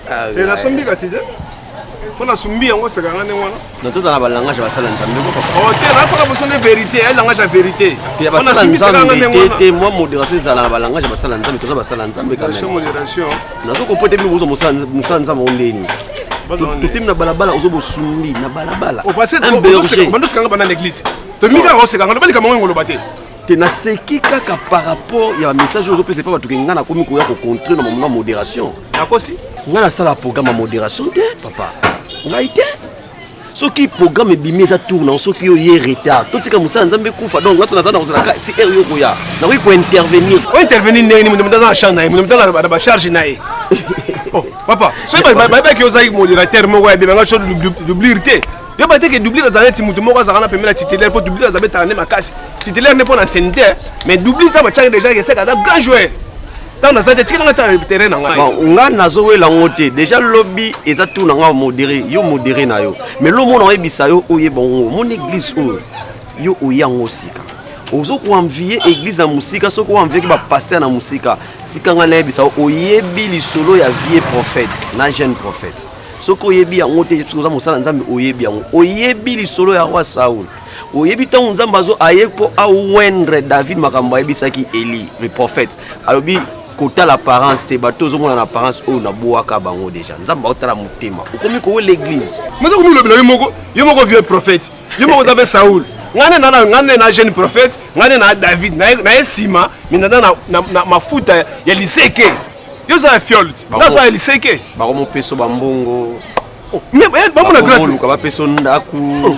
Ah, eh, nasombi kasi te mpo nasombi yango oseka nga ndenge wana na toza na balangage basala nzambe o oh, te nakola boso nde vérité ya langage ya vérité basala nzambe te mwa modération ezala na balangage basala nzambe toza basala nzambe modération nazo kompote bino bozo mosala nzambe ngo ndeni totemi na balabala ozo bosundi na balabala bandosakanga banda na eglise tomikaka osekanga loba likambo ngo engoloba te te naseki kaka par rapport ya bamessage oyo ozopesa epa bato ke ngai nakomi koya kocontre na mamona modération nakosi ngai nasala programme ya modération te papa ngai te soki programme ebimi eza tour nango soki yo ye retard totika mosala nzambe ekufa donc ngaso naza na kozala ka ti heure yo koya nakoki kointervenir ointervenir ndenge nini moto moto aza na champ na ye moto moto aza na bacharge na ye oh, papa soki bayebaki ozalaki modérateur moko ya bebanga so doublure te yo bateke doublure azala neti moto moko azalaka na pembeni ya titulaire mpo doublure aza betaka nde makasi titulaire nde mpo na senitaire mais doublure ntango batyaki déjà eseka aza grand joueur ntango naza te tikela ngai ta terrain na ngai bon nga nazowela yango te déjà lobi eza tour na ngai modéré yo modéré na yo mais lomona oyebisa yo oyeba yango omoni église oyo yo oye yango sika ozokoanvie église na mosika soki oanvieki bapaster na mosika tika ngai nayebisa oyebi lisolo ya vie prophète na jeune prophète soki oyebi yango te oza mosala nzambe oyebi yango oyebi lisolo ya roi saul oyebi ntango nzambe azo aye mpo awendre david makambo ayebisaki eli le prophète alobi kotala apparence te bato ozomona na apparence oyo nabwaka bango deja nzambe aotala motema okomi kowe l'église moza komilobela yo moko yo moko vieux prophète yo moko oza mpe saul ngane na ngane na jeune prophète ngane na david naye nsima minanda na, na, na mafuta ya liseke yo oza ya fiole te naza ya liseke bakomopeso bambongo oh, eh, bamona grâce bapesa ndako oh.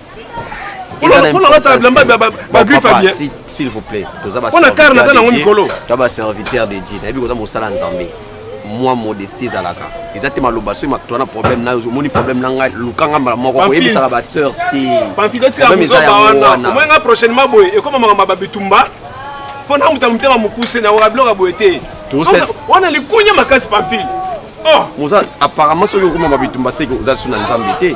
s'il vous plaît mpona kare naza nango mikolo to baserviteur de dieu nayebi koza mosala nzambe mwa modestie ezalaka eza te maloba soki mato wana problème nayo omoni problème na ngai luka ngai mbala moko koyebisaka baseur teomoyenga prochainement boye ekoma makambo ya babitumba mpo na moto ya motema mokuse na wakabiloka boye te wana likunya makasi pamphile oh! apparemment soki okoma babitumba seke oza lisu na nzambe te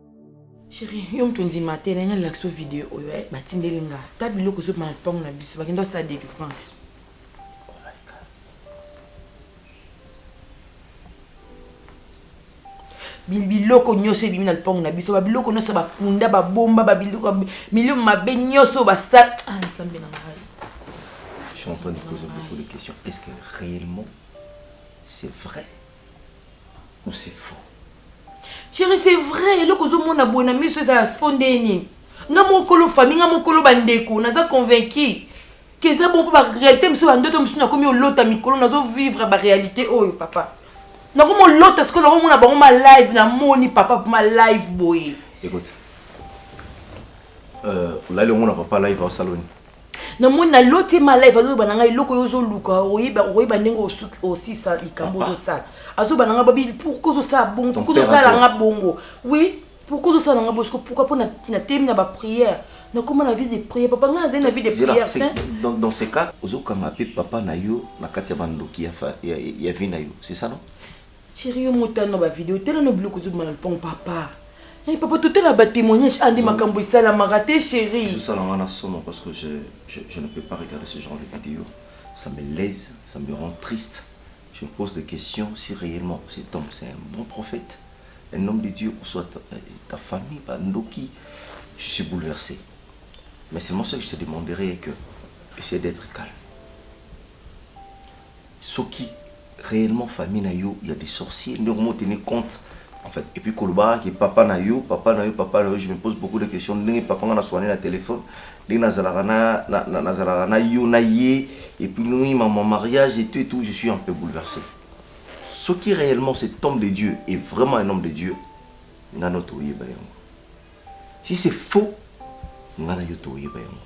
Chérie, yo mutu ndima te na nga lakso video oyo eh batindeli nga ta biloko ezo bana pango na biso bakenda sa délivrance. biloko nyonso ebimi na lopango na biso babiloko nyonso bakunda babomba babiloko milio mabe nyonso basala ah, nzambe na ngai Je suis en train de poser beaucoup de questions. Est-ce que réellement c'est vrai Ou c'est faux. Chérie, c'est vrai, eloko ozomona boye na miso eza ya faux nde nini? Nga mokolo famille, nga mokolo bandeko, naza convaincu que eza bongo ba réalité mosusu ba ndoto mosusu nakomi olota mikolo nazo vivre ba réalité oyo papa. Nakomi olota sikoyo nakomona bango ma live na moni papa ma live boye. Écoute. Euh, olali omona papa live au salon. na moni na loti ma live azoloba na ngai eloko yo ozoluka okoyeba ndenge osisa likambo ozosala azoba na ngai babi pourkui ozosala bongo pourkui ozosala nga bongo oui pourkui ozosala nga bongo pourkui mpo na temi na baprière nakoma na vie de prière papa ngai azali na vie de prière dans ce cas ozokanga mpe papa na yo na kati ya bandoki ya vie na yo c'est ça non Cherie yo motano na ba video tala no biloko ezobima na lopango papa eh papa totala ba temoignage ande makambo esalamaka te cherie. Ezo sala nga na somo parce que je je je ne peux pas regarder ce genre de video ça me lèse ça me rend triste je me pose des questions si reellement cet homme c'est un bon prophète un homme de Dieu ou soit ta, euh, ta famille ba ndoki je suis bouleversé mais seulement ce que je te demanderai est que essaie d'être calme Soki reellement famille na yo ya des sorciers nde okomo tenir compte en fait et puis koloba kaka ke papa na yo papa na yo papa na yo je me pose beaucoup de questions ndenge papa nga na suana naye na telephone ndenge na zalaka na na zalaka na yo na ye et puis ndenge maman mariage et tout et tout je suis un peu bouleverse soki reellement cet homme de Dieu est vraiment un homme de Dieu nga no toyeba yango si c'est faux nga na yo toyeba yango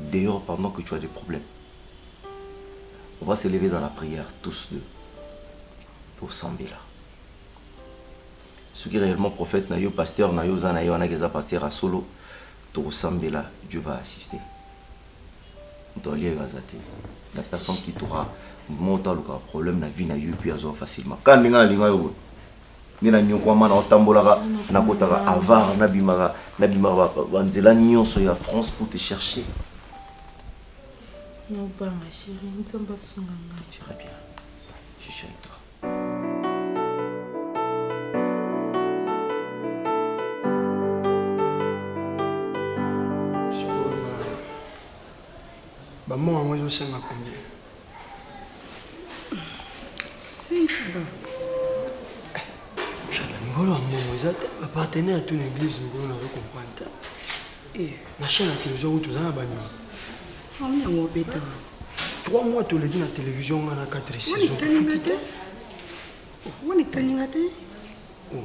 dehors pendant que tu as des problèmes on va se lever dans la prière tous deux tosambela soki reellement prophète na yo pasteur na yo oza na ye wana keza pasteur ya solo tokosambela Dieu va assister moto alia yo aza te la personne qui t'aura moto alukaka problème na vie na yo puis azwa facilement kaka ndenge alinga yo boye nde na nyokwama na otambolaka nakotaka avar nabimaka nabimaka banzela nyonso ya france pour te chercher nobanga chéri nzambe asunga nga très bien je suis avec toi bamor yango ezosenga combien mikolo ya mbongo eza te bapartenaire to na eglise mikolo nazo comprendre te eh. na chaîne ya télévision kutu oza na banyama yango obeta trois mois toleki na télévision nga na quatre saison futi te wani kaninga te oh.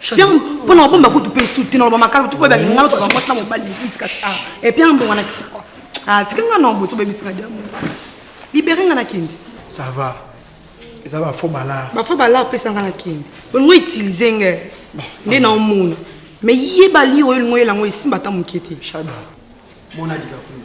Pierre mpo na kobomba kutu mpe suti na loba makalo tufu ebaki ngai toka mwasi na mobali likulisi kasi a e Pierre mbongo na kitoko a tika ngai na boso bebisi ngai diamo libere ngai na kende ça va eza bafo balar bafo balar pesa ngai na kende olingo utilise ngai nde na omona mais yeba lire oyo elingo yelango esimba ata moke te shada mona dikakuni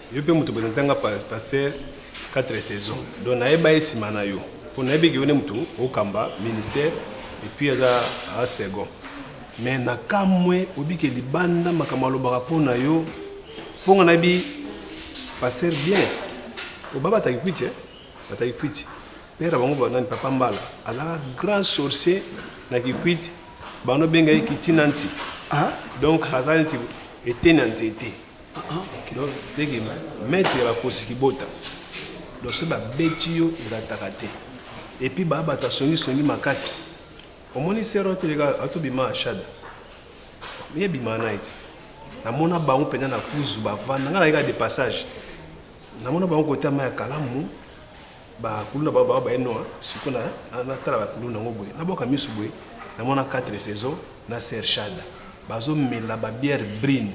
Yo pe mutu presenta nga pasteur 4 saison donc nayeba ye sima na yo po nayebi ke yo nde mutu okamba ministère et puis aza a second mais na kamwe obike libanda makambo alobaka po na yo po nga nayebi pasteur bien obaba ataki kwiti eh? ataki kwiti père bango banani papa mbala azalaka grand sorcier na kikwiti bano benga ye kitinanti ah? donc aza neti eteni ya nzete donc ndenge maître ya bakosi kibota donc soki babeti yo olataka te epuis baa bato asongisongi makasi omoni sero ateleka atobima ashada ye bima na ye te namona bango mpenza na kuzu bavanda ngai nayeka de passage namona bango kota ma ya kalamu bakuluna bao bao baye noa siko natala bakuluna yango boye nabwaka miso boye namona 4 saison na sershada bazomela babiere brine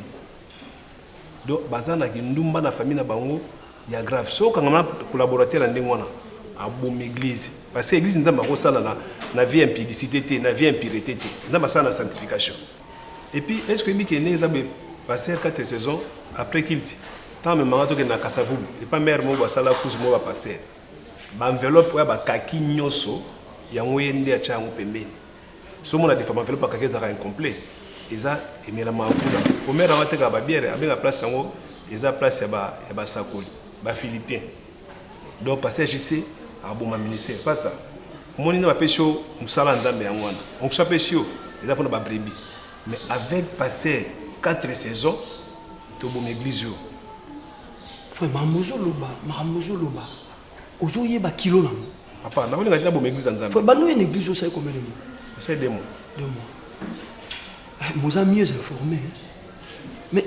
donc baza na kindumba na famille na bango ya grave so okangama na collaborateur ya ndenge wana abomi église parce que église nzambe akosala na, na vie impudicité te na vie impurité te nzambe asala na sanctification et puis est ce que oyebi ke ndenge eza boye passer 4 saisons après kilte ntango amemanga tokende na kasavubu epa mare moko basala kuzu moko bapaster baenveloppe oyo bakaki nyonso yango ye nde atya yango pembeni Somo na defa enveloppe akaki ezalaka incomplet eza emelama kuna omer yango atekaka babiere abenga place yango eza place ya ba ya basakoli ba philippien donc pasteur jc aboma ministère pasta omoni nde bapesi yo mosala ya nzambe yango wana onction apesi yo eza mpona babrebi mais avec pasteur 4 saison tobomi eglise oyo vraiment mozoloba makambo mozoloba Ozo yeba kilo na ngo. Papa, na olinga tina boma église ya Nzambe. Faut bando une église osali combien de mois? Osali deux mois. Deux mois. Eh, moza mieux informé. Hein? Mais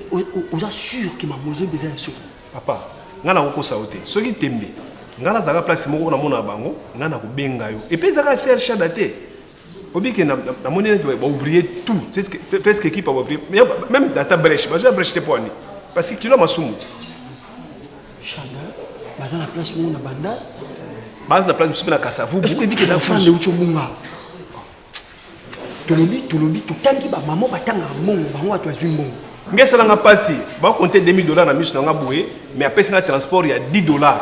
oza sûr que ma mozo beza ya solo. Papa, nga na kokosa yo te. Soki tembe, nga nazalaka place moko na mona bango, nga na kobenga yo. Et puis ezaka CR Shada te. Obi que na na moni neti ba ouvrier tout c'est ce que presque équipe ba ouvrier mais même data brèche bazo ya brèche te poani parce que kilo masumu ti shanga baza na place mo na banda baza na place musupe na kasavu est ce que obi que na fande ucho bunga tolobi tolobi totangi ba maman batanga mbongo bango watu azwi mbongo ngesalanga pasi ba compter 2000 dollars na misu na nga boye mais apesi nga transport ya 10 dollars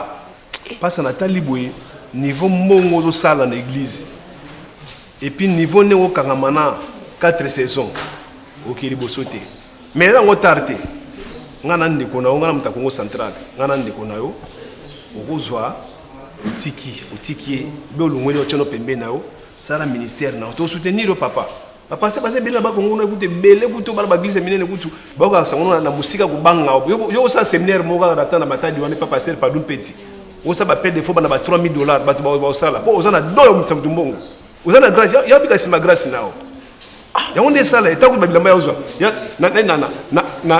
Pasta na tali boye niveau mbongo ozo sala na eglise et puis niveau ndenge okangama na 4 saisons oke liboso te mais eza yango tard te ngai na ndeko na yo ngai na moto ya kongo central ngai na ndeko na yo okozwa otiki otiki ye be olongweli otyano pembe na yo sala ministère na yo tosoutenir yo papa bapase base ebele na bakongo kuna kutu ebele kutu bana baglise ya minene kutu bayoka sango na mosika kobanga yo osala seminaire moko kaka na temps na matadi wana epa paster padum peti osala bapede defo bana ba 3000 dollars bato baosala mpo oza na do ya motisa moto mbongo oza na grace ya bika nsima grace nao ah, yango nde esala etango babilamba ya ozwa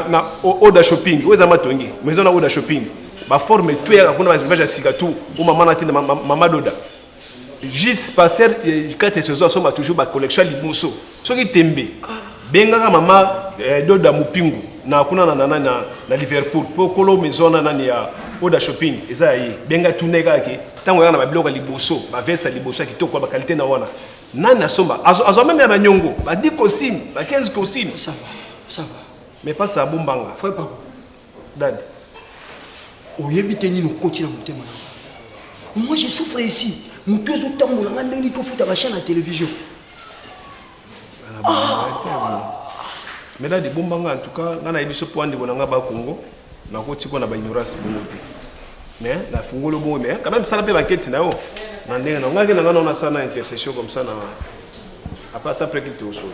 na oda shopping oyo eza matongi maison na oda shopping baforme to eyaka kuna baelevage ya sika tu o mama na ntina mama doda Jus pasteur kate sezo asomba toujours ba collection liboso soki tembe bengaka mama eh, doda mupingu na kuna na nana na, na liverpool po kolo maison na nani ya oda shopping eza ya ye benga tune kaka ke ntango yaka na babiloko ya liboso bavese ya liboso ya kitoko ya bakalite na wana nani asomba azwa meme ya banyongo ba 10 costume ba 15 costume mais pas abombanga Dad, oyebi te nini okoti na motema na nga. Moi, je souffre ici. Moto ezotambola nga ndenge nini tofuta basha na television. Mais dad, ebomba nga en tout cas, nga nayebi so mpo andeko na nga ba Congo, nakoti mpo na ba ignorance bongo te. Mais nafungoli bongo, mais quand même sala mpe banketi na yo. Na ndenge na nga ke na nga naona sana intercession comme ça na apata mpe kiti osolo.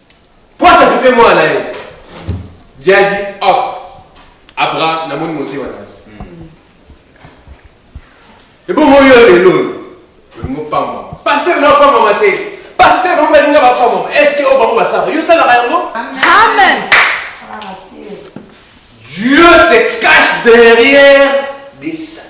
Pwasa tu fais moi naye. Diadi hop. Abra na moni motema na. Ebongo yo lelo. Ngo pamba. Pasteur na pamba mate. Pasteur bango balinga ba pamba. Est-ce que o bango basala? Yo sala ba yango? Amen. Dieu se cache derrière des saints.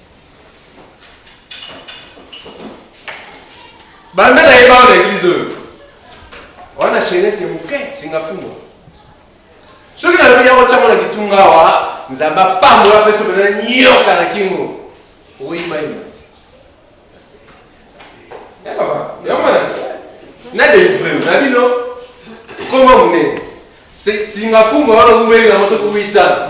banda na ye bao na eglize oyo wana shenete moke singafungwa soki nalobi yango ntango na kitunga awa nzambe apambola mpe soki na nyoka na kingo oyimayima na delivre na bino koma monene singafungwa wana oumeli na moto kowita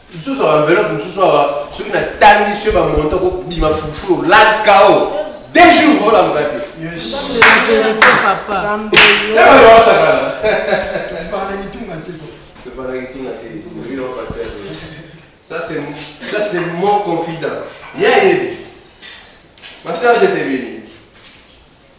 Lisusu ba enveloppe mosusu awa soki natangi soki ba montant kobima fufu olaka o deux jours olamuka te. Osakana. Ça c'est mon confident. Yeah, yeah. Ma sœur, je t'ai béni.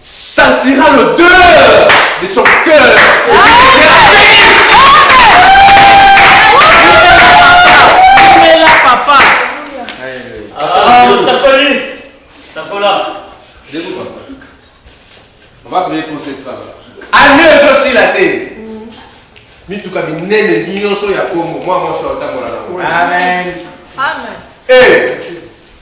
Sentira l'odeur de son cœur. Année ezosila te mituka minene nyonso ya kongo mwa mwasi otambola nango Amen. Amen. Eh,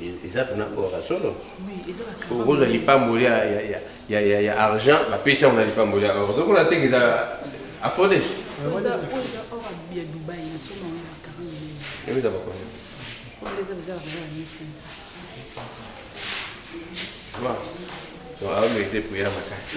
eza pena or ya solo okozwa lipamboli ya argent bapesi yango na lipamboli ya or ozokola teke eza afode eza bakonde awa mete priere makasi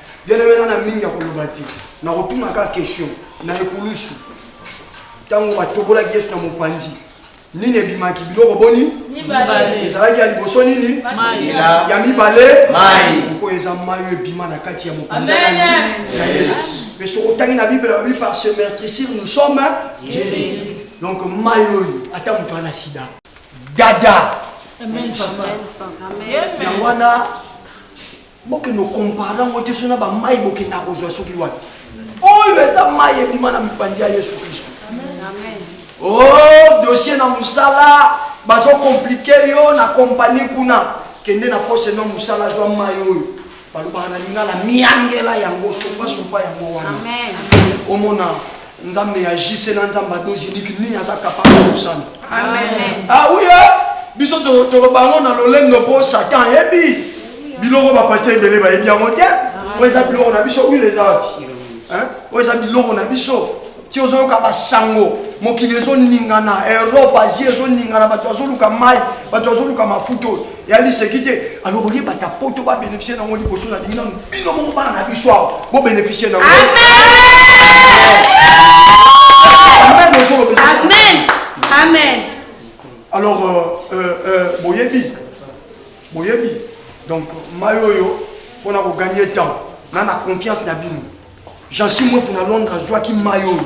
Bien-aimé nana mingi akoloba te nakotuna kaka question na ekulusu ntango batobolaki yesu na mopanzi nini ebimaki biloko boni ezalaki ya liboso nini ya mibale mpo eza mai oyo ebima na kati ya mopanzi ya yesu mpe soki otangi na bible alobi par ce mertricir nous sommes donc mai oyo ata moto ana sida dada yango wana Bokende ko comparer yango te soki na ba mayi bokenda kozwa soki wapi. Oyo eza mayi ebima na mipanzi ya Yesu Kristo. Oh, dossier na musala bazo compliquer yo na compagnie kuna. Kende na poste no musala zwa mayi oyo. Balobaka na lingala miangela yango sopa sopa yango wana. Omona? Nzambe ya JC na Nzambe ya Dozi Niki nini aza capable ya kosala. Amen. Ah oui, hein? biso to- toloba yango na lolendo mpo satan ayebi biloko bapasita ebele bayebi yango te oyo eza biloko na biso wile eza wapi Hein? oyo eza biloko na biso ti ozoyoka basango mokili ezoningana europe asie ezoningana bato bazoluka mai bato bazoluka mafuta oyo ya liseki te alors olie bato ya poto babénéficie nango liboso nalingi nano bino moko bana na biso awa bobénéficie nango alors euh, euh, euh, boyebi boyebi donc mai oyo mpona kogagne temps na na confiance na bino jansi mwe mpona londres azwaki mai oyo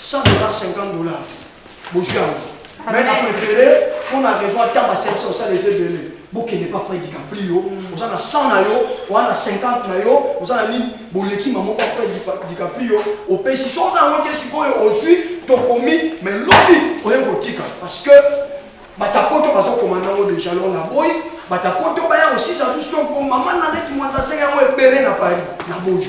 100 dollars 50 dollars bozwi yango mais na préféré mpo na raison ata baservice osala eza ebele bokende pa frai dicaprio mm. oza na 100 na yo oza na 50 na yo oza na nini boleki mamo pa frai dicaprio opesi so oza yango te sikoyo ozwi tokomi mais lobi oye kotika parce que batapoto bazokoma nango deja lo na boyi batapoto baya kosisa susu to mama na neti mwanza asenge yango ebele na paris na boyi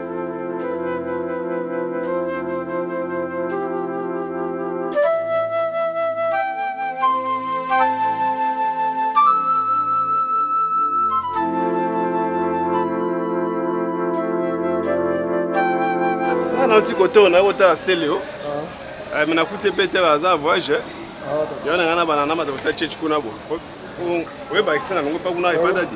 nauti kotoo naye kotala seleo ah. eh, me nakuti mpe te baza voyage eh. ah, yo na ngai na bana na mata kota chechi kuna bo oyebakisa na longo mpa kuna ebandadi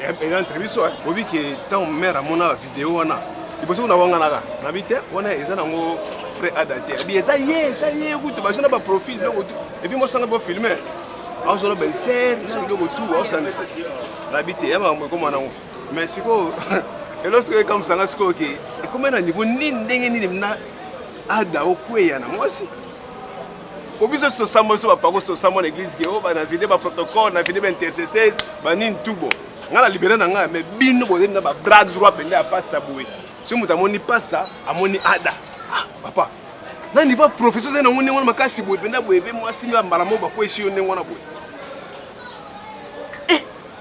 eza entre biso bobi ke ntango mare amonaka video wana liboso kuna wanganaka nabi te wana eza nango frais ada te abi eza ye etali ye kutu bazo na baprofil biloko tu epuis mosanga bofilme azolo benser na biloko tu aosangisa nabi te ya makambo ekoma nango mais sikoyo elo sikoyo ekamwisanga sikoyo ke ekoma na niveau nini ndenge nini na ada okweya na mwasi po biso sosamba biso bapako sosamba na eglise ke o oh, bana vide ba protocole na vide ba intercesseurs banini tubo ngai na libere na ngai mais bino bozali na ba bras droit mpenza ya pasta boye soki moto amoni pasta amoni ada ah, papa na niveau professeur ozali nango ndenge wana makasi boye mpenza boye mpe mwasi mbala moko bakwesi yo ndenge wana boye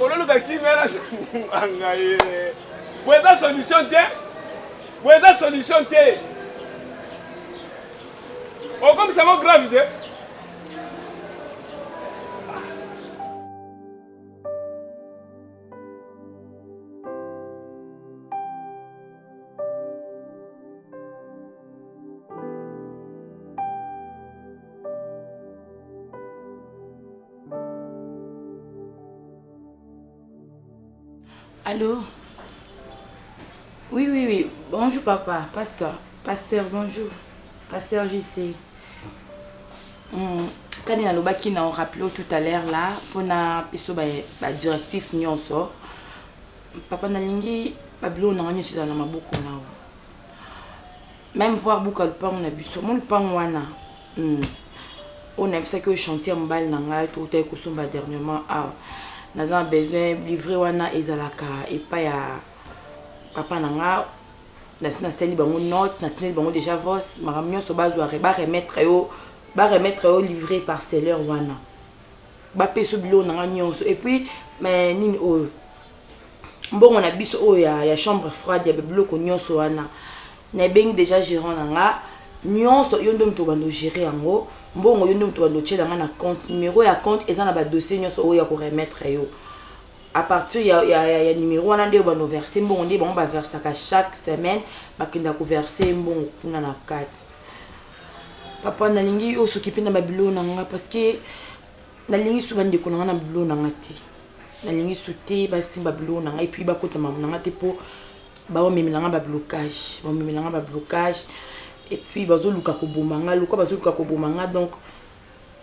ololuka kimia na anga ye boye eza solution te boye eza solution te okomisa ngo grave te Allô Oui, oui, oui. Bonjour, papa. Pasteur. Pasteur, bonjour. Pasteur JC. Hmm. Quand il y a le qui n'a rappelé tout à l'heure là, pour na piso ba, ba directif nyonso. Papa na lingi babilo na ngani sisa na maboko na. meme voir buka lupangu na biso mo lupangu wana hmm. oyo nayebisaki oyo chantier ya mobali na ngai toutaki kosomba dernièrement awa naza na besoin livre wana ezalaka epai ya papa na ngai nasi nasali bango note natineli bango déjà vos makambo nyonso bazwa baremettre yo baremettre yo livre parcelleur wana bapesa yo biloko na ngai nyonso epuis nini oyo mbongo na biso oyo ya, ya chambre froide ya biloko nyonso wana na ebengi deja gerant na nga nyonso yo nde moto obanda ogere yango mbongo yo nde moto obanda otyela nga na compte numero ya compte eza na badossier nyonso oyo ya koremettre yo à partir ya, ya, ya, ya numero wana nde obanda overse mbongo nde bango baversaka chaque semaine bakenda koverse mbongo kuna na kati papa nalingi osoki mpe na babiloko na nga parce que Nalingi su bandeko na nga na bilo na nga te. Nalingi su te basimba bilo na nga epuis bakota mamu na nga te po baomemela nga ba blocage. Baomemela nga ba blocage epuis bazoluka koboma nga lokola bazoluka koboma nga donc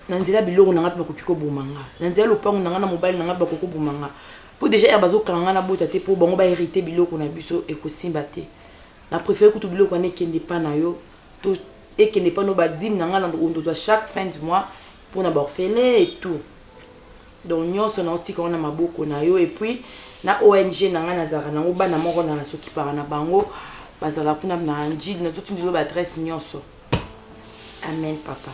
na nzela biloko na nga mpe bakoki koboma nga na nzela lopango na nga na mobali na nga mpe bakoki koboma nga mpo deja ere bazokanga nga na bota te mpo bango baherite biloko na biso ekosimba te na préfère kutu biloko wana ekende epa na yo to ekende epa no badime na nga na ondozwa chaque fin du mois pona ba orphelins et tout donc nionso nao tika ngo na maboko na yo et puis na ong na nga nazalaka nango bana moko na sokipaka na bango bazala kuna na ndjili nazo tindela yo ba adresse nionso amen papa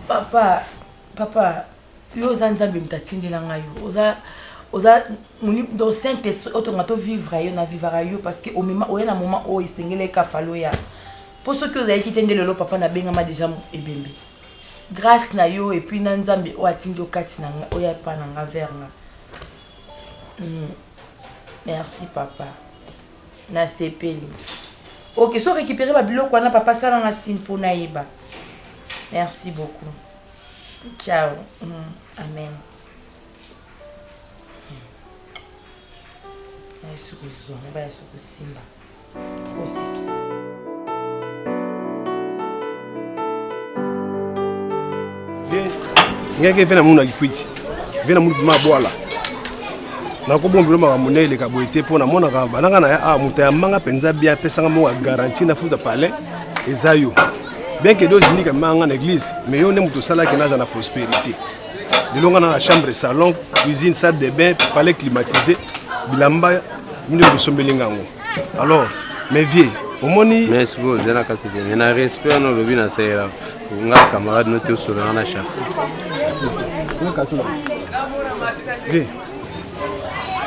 papa papa yo oza nzambe moto atindela ngai yo oza oza donc saint esprit otonga to vivre yo na vivaka yo parce que omema oya na moment oyo esengelaki kafalo ya Po soki ozalaki te nde lelo papa na bengama dejà ebembe. Grace na yo et puis na Nzambe oyo atindi yo kati na nga oya epa na nga vers nga. Hum merci papa na sepeli ok so récupérer ba biloko wana papa sala nga signe po nayeba merci beaucoup ciao mm. amen nayesu kozwa nabaya sokosimba ngeke mpe namonaki kwiti mpe namoni bima bwala nakobombelo makambo nde eleka boye te mpo namonaka bananga na ya awa ah, moto ya manga mpenza bia apesanga moko ya garanti na futa palais eza yo bien ke dozindika manga na église mais yo nde moto osalaki naza na prospérité lelo nga na na chambre salon cuisine salle de bain palais climatisé bilamba Mimi okosombeli nga yango. Alors, mes vieux, omoni mais sikoyo ozela kati te mais na respect wana olobi na sayela nga camarade no te osolanga na chaque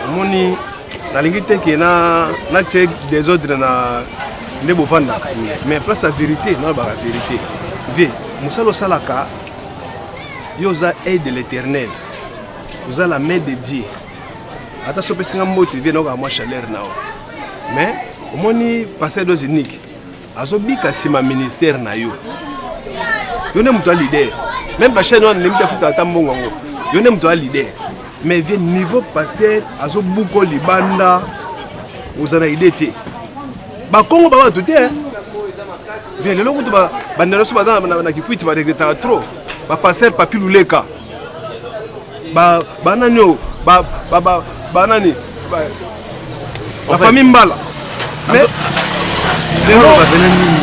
omoni nalingi te ke natie desordre na nde bofandaka mais place ya vérité nalobaka vérité vie mosala osalaka yo oza aide de l'éternel oza la main de dieu ata so opesi nga mbote vie nayokaa mwa chaleur na yo mais omoni pasteur dos unique azobika nsima ministère na yo yo nde moto ya leader meme bachaine wana ndembi tafuta ata mbongo yango yo nde moto ya leader mais vie niveau pasteur azobuko libanda oza na idée te bakongo ba bato te vie lelo kutu bandela so baza na kikwiti baregretaka trop bapasteur papi luleka ba banani oyo ba ba ba banani ba famille mbala mais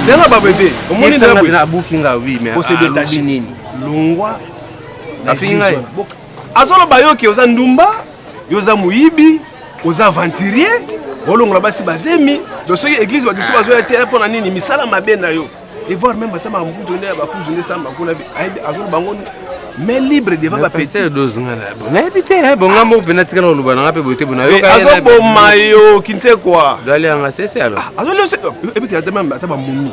lelo ba bebe omoni na abuki nga oui mais ko se détacher nini longwa afingi ngai azoloba yo ke oza ndumba yo oza moyibi oza aventurier olongola basi bazemi donc soki eglise bato biso bazoya te mpo na nini misala mabe na yo et voir même ata mavuto nde ya bakuzu nde samba kuna ayebi azolo bango mais libre devant ba petit dose nga na bon nayebi te eh bon nga moko pena tikala koloba na nga pe boye te bona yoka azo boma yo kinse quoi dali anga sese alors ah, azo lose ebi te ata même ata ba mumi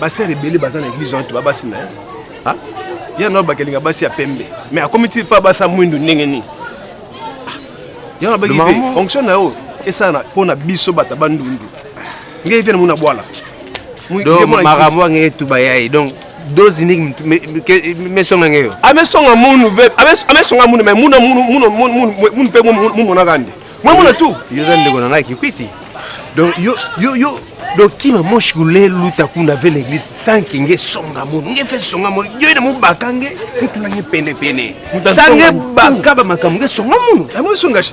ba sœur ebele baza na église entre ba basi na ye ah ya na bakelinga basi ya pembe mais akomi ti pa basa mwindu ndenge nini ah, ya na baki fonction na yo esala mpo na biso bato bandundu ngai vena muna bwala donc makambo yango etuba ya ye donc dose niki mesonga ngeyo amesonga ah, munu amesonga ah, munu me muna munu mpe mumonaka nde mwe muna tu yo za ndeko na ngai kikwiti donc yo yo yo donc kima moshi kule luta kuna ve na eglise sanke nge songa munu nge fe songa munu yo ina mubaka nge kutula nge pene pene sange baka ba makambo nge songa munu amwe songa shi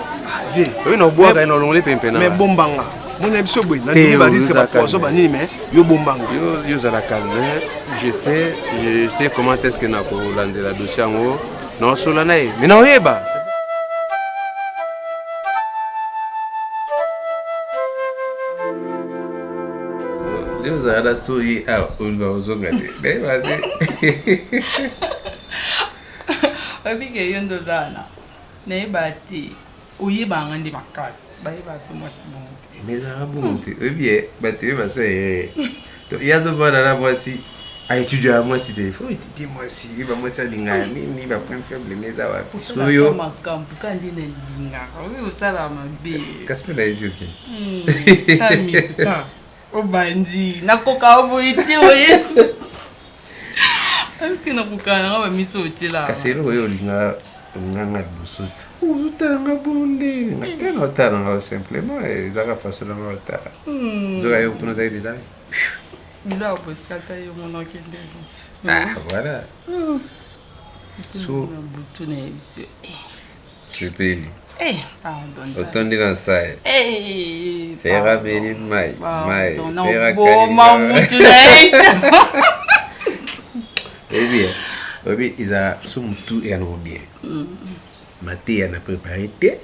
bombanga mona ya biso boye nandimi bariske bapoison banini mais yo bombanga yo ozala calme je sais je sais comment est ce que nakolandela dossier yango naosola na ye mais naoyeba ozala soyi awa oluka kozonga te nayeba te obike yo nde oza wana Nayeba te oyebaka nga nde makasi bayebaka pe mwasi bongo te mais ezalaka bongo te oyebi ye bato ye basa ye to ya tofanda na mwasi aetudia ya mwasi te fo etidie mwasi ye bamwasi alingaka nini bapoint faible ne eza wapi soyo makambo ka nde nalingaka oyo osala mabe kasi mpe nayebi oke Obandi na koka oboyi te oye. Alki na koka na ba miso otela. Kasi elo oyo linga linga nga liboso. Ozotala nga bonde. Na tala na tala nga simplement ezaka façon na nga tala. Hmm. Zoka yo kuna zai bizali. Bila obosata yo monoki ndelo. Ah voilà. Hmm. Surtout na butu na ye. sepeli eh, otondi na nsai eh, sera beli mai mai sera kalima mutu na ebien oyebi eza so motu eyanogo bien mateya na prépare te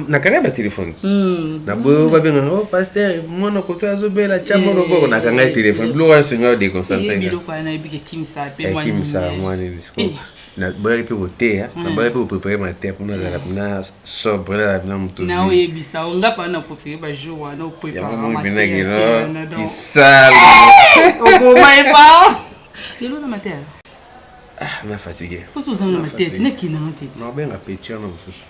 nakanga ba telefone hmm. na boyo babengaka o oh, paster mwana koto azobela tya mwana eh. okoko nakanga telefone biloko wana songi ya deconcentremisa eh, mwana eh. naboyaki mpe koteya hmm. naboyaki mpe koprepare mateya mpo nazala mpena sobre nazala mpena motoyangompenakisala na fatigue nabenga peti wana mosusu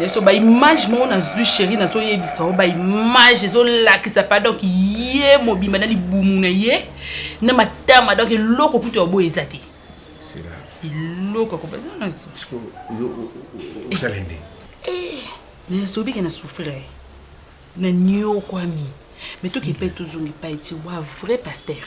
yeso ba image moko nazwi sheri nazoyebisa yango ba image ezolakisa pa donc ye mobimba na libumu na ye na matama donc eloko kutu ya boye eza te eloko akobazanasalende nasobike na souffrir na niokwami me tokepe tozongi pai ti wa vrai pasteur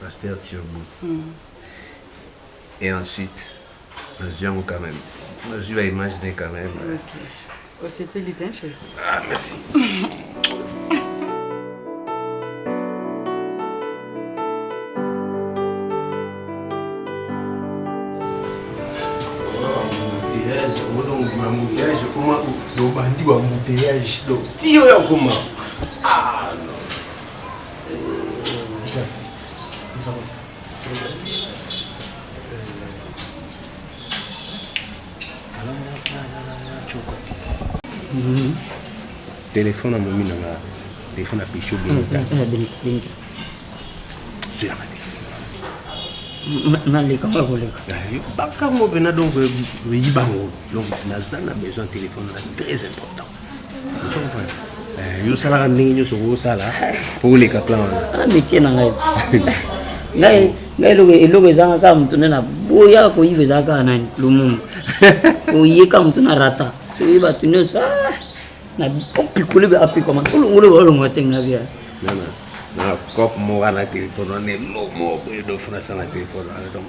Pasteur Turbo. Mm. Et ensuite, nazwi yango quand même. Nazwi ba image ne quand même. Ok. Osepeli bien chérie. Ah, merci. embouteillage ekoma dobandi ba embouteillage donc tiyo ya koma ah. telefone amomi na nga telefone ya pesho benita zwelaka naleka oyo koleka bakango mpena donc eyi bango donc naza na besoin telefone na très important Eh, yo salaka ndenge nyonso okosala mpo oleka plan wana ah, métier na ngai ngai ngai eloko eloko ezanga kaka moto nde na boyaka koyiba ezala kaka nani lumumu oyeka moto na rata soki bato nyonso ah, na opikoli be apikoma olongolo baolongola te nga bia na cope moko na telefone wana eloko moko boye dofuna asala telefone wana donc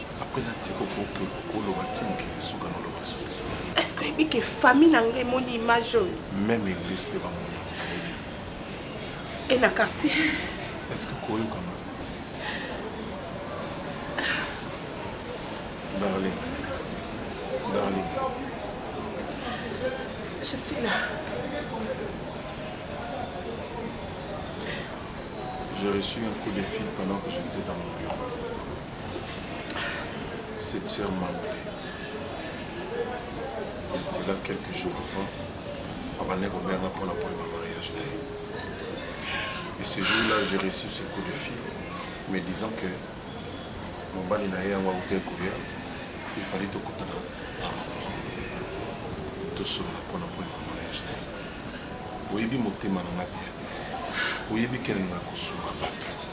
Après na tiko koke koloba ti mokili esuka na loba soki. Est-ce que oyebi ke famille na nga emoni image oyo? Même église mpe bamoni yango bayebi. Et na quartier? Est-ce que koyoka nga? Darling. Darling. Je suis là. J'ai reçu un coup de fil pendant que j'étais dans mon bureau. Cette sœur m'a appelé. Il dit là quelques jours avant, abandaki kobenga mpo na problème ya mariage na ye. Et ce jour-là, j'ai reçu ce coup de fil, me disant que mobali na ye yango auta ekoya, il fallait tokutana na restaurant, tosolola mpo na problème ya mariage na ye. Oyebi motema na nga bien, oyebi kene na kosunga bato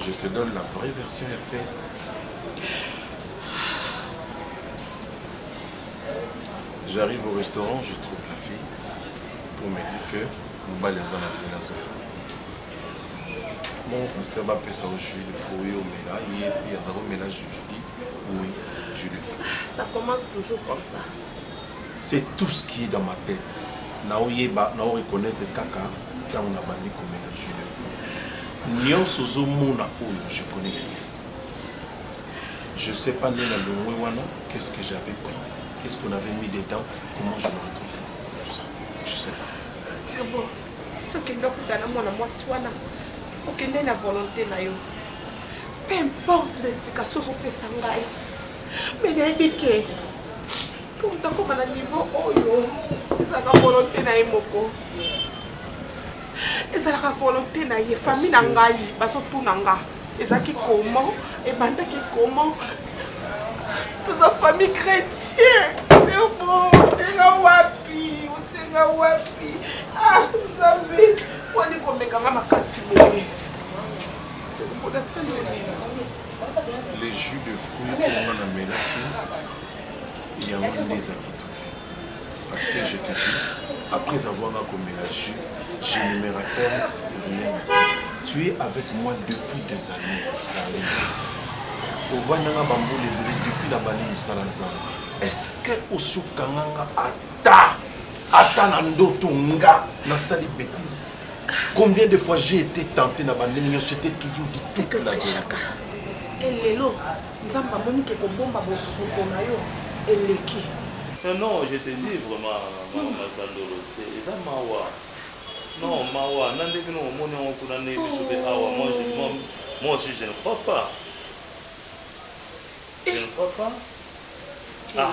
Je te donne la vraie version ya fait. J'arrive au restaurant, je trouve la fille pour me dire que mobali aza na nzela zoya mon pasteur bapesa o jus de fruit omela ye mpe aza komela jus je dis oui jus de fruit ça commence toujours comme ça C'est tout ce qui est dans ma tete nao yeba nao reconnaitre kaka tango na bandi komela jus de fruit nionso ozo mona oyo je connais rien je sais pas nde na longwe wana qu'est ce que j'avais pris qu'est ce qu'on avait mis dedans comment je me retrouvais tout ça je sais pas Turbo, tokende okutana mwana mwasi wana okende na volonté na yo peu importe na explication ozopesa ngai me nayebi ke nakoma na niveau oyo ezalaka volonté na ye moko ezalaka volonté na ye famille na ngai bazotuna nga ezalaki comment ebandaki comment toza famille chrétien sebo osenga wapi osenga wapi ah nzambe wani komekanga makasi boye sekobodasaleli le jus de fruit oyo nga namelaki yango nde eza kitoki parce que je te dis après avoir nga komela jus je ne me rappelle de rien tu es avec moi depuis des années darlene ovandanga bambula ebele depuis na bandi mosala nzambe est-ce que osukanganga ata ata na ndoto nga nasali betise Combien de fois j'ai été tenté na bandenge nionso c'était toujours du C'est que Shaka, et lelo, Nzambe amoni ke kobomba bosoto na yo eleki. Non, non, je te dis vraiment, maman Masandolo, c'est eza mawa. Non, mawa, na nde bino bomoni yango kuna nde biso pe awa, moi je, moi, moi aussi je ne crois pas. Je ne crois pas. Ah.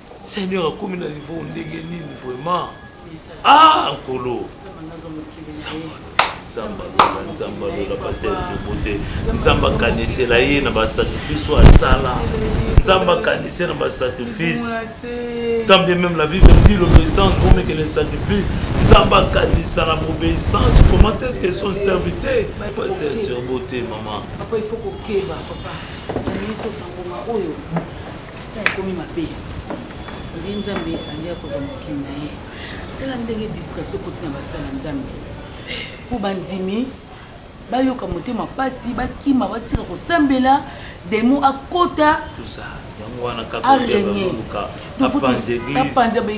Seigneur akomi na niveau ndenge nini vraiment ah nkolo nzambe alola nzambe alola paster nzembo te nzambe akanisela ye na basacrifice oyo asala nzambe akanise na basacrifice tant bien même la bible dit l'obéissance vaut mieux que le sacrifice nzambe akanisa na bobeissance comment est ce que son serviteur paster nzembo te mama Tata ekomi mabe. Oye Nzambe andi akozwa mokili na ye. Tala ndenge distraction ekoti na basala ya Nzambe. Mpo bandimi bayoka motema mpasi, bakima, batika kosambela, demo akota, Tout ça. Yango wana kaka arenie. oyebaluka. Apanza eglise.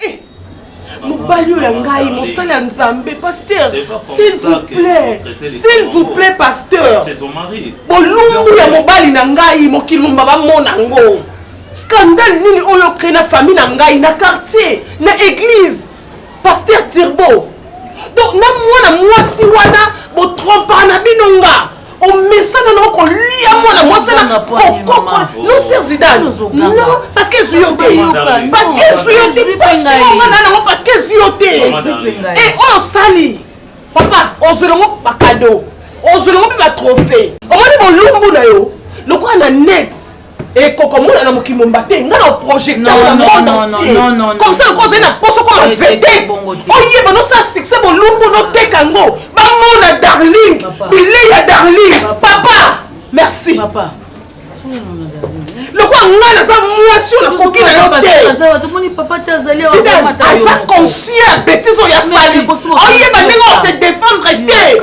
Eh, mobali oyo ya ngai mosali ya nzambe pasteur s'il vous plaît s'il vous plaît pasteur bolumbu ya mobali na ngai mokili momba bamona ngo scandale nini oyo crée na famille na ngai na quartier na église pasteur tirbo donc na mwana mwasi wana botrompaka na bino nga omesana na okolia mwana mwasi na kokoko non ser zidane non parce que ezwi yo te parce que ezwi yo te pasiomana nango parce que ezwi yo te e oyo osali papa ozwi nango bakado ozwi nango mpe batrophée omoni bolumbu na yo lokola na net ekokomona na mokili momba te nga na projecteur na monde entier comme ça lokola ozali na poso koma vedete oyeba nosala succès bolumbu noteka yango bamona darling bilei ya darling papa merci papa. lokola ngai naza mwasi oyo nakoki na yo teaza conscient ya betise oyo asali oyeba ndenge ose defendre te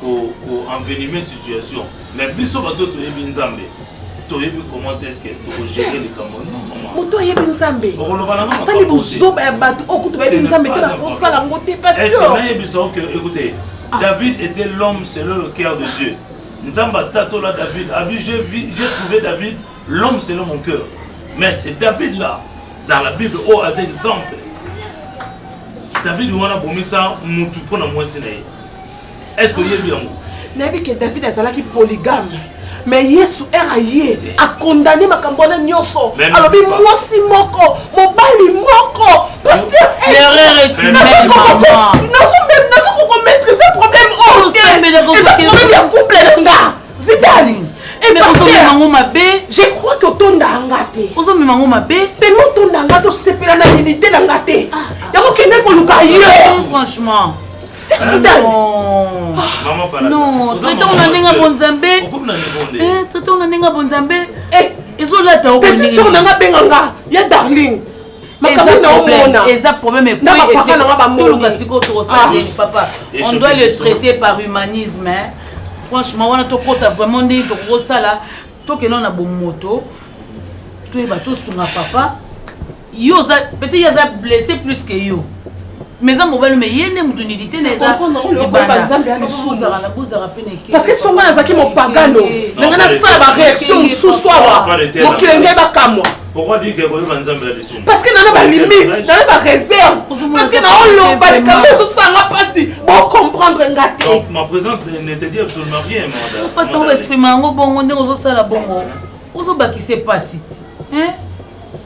ko ko envenimer situation mais biso bato toyebi nzambe toyebi comment est-ce que tokogere likambo moto ayebi nzambe asali bozoba ya bato oyo kutu bayebi nzambe te bakosala yango te pasnayebisa oke ekute ah. david était l'homme selon le cœur de dieu nzambe atatola david abi j'ai trouvé david l'homme selon mon cœur mais c'est david là dans la bible oyo aza exemple david wana abomisa mutu mpo na mwasi na ye est ce que oyebi yango nayebi ke david azalaki polygame mais yesu ere aye akondane makambo wana nyonso alobi mwasi moko mobali moko pasternazokokomaîtrise problème oyo eza problème ya couple na nga zidani epasterango mabe je crois que otonda nga te ozomema yango mabe pema otonda nga tosepela na unité na nga te ah, ah. yango kende koluka yo franchement traitanga na ndenge bonzambe traitanga na ndenge bonzambe ezolata okopetitoko na nga benga nga ya darling makambo naomona eza problème ekoyepapa nanga bamoluka sikoyo tokosala nini ah. papa on doit le traiter par humanisme hein? franchement wana tokota vraiment ndenge tokokosala tokenda na bomoto toyeba tosunga papa yo oza peut-être ye aza blesse plus que yo mais eza mobali mais ye nde moto nidite na ezabozala mpe neke parce que songa nazalaki mopagano na ngai nasala baréaction mosusu awa mokili ngai bakamwa parce que nana balimite nana baréserve parce que naoloba likambo ezosanga mpasi bocomprendre nga tepasi oexprime yango bongo ndenge ozosala bongo ozobakisa mpasi ti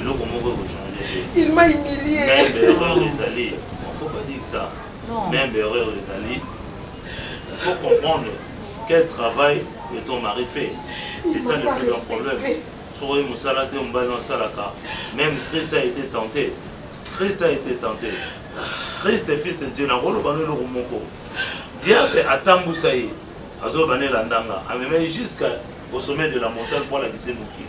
eloko moko eko changer te il m'a humilié même erreur ezali on faut pas dire ça même erreur ezali il faut comprendre quel travail que ton mari fait c'est ça le plus grand problème soki oyebi mosala te mobali na osalaka même christ a été tenté christ a été tenté christ fils de dieu nakoloba no eloko moko diable atambusa ye azoloba na elandanga amemai jusqu'à au sommet de la montagne mpo alakisi mokili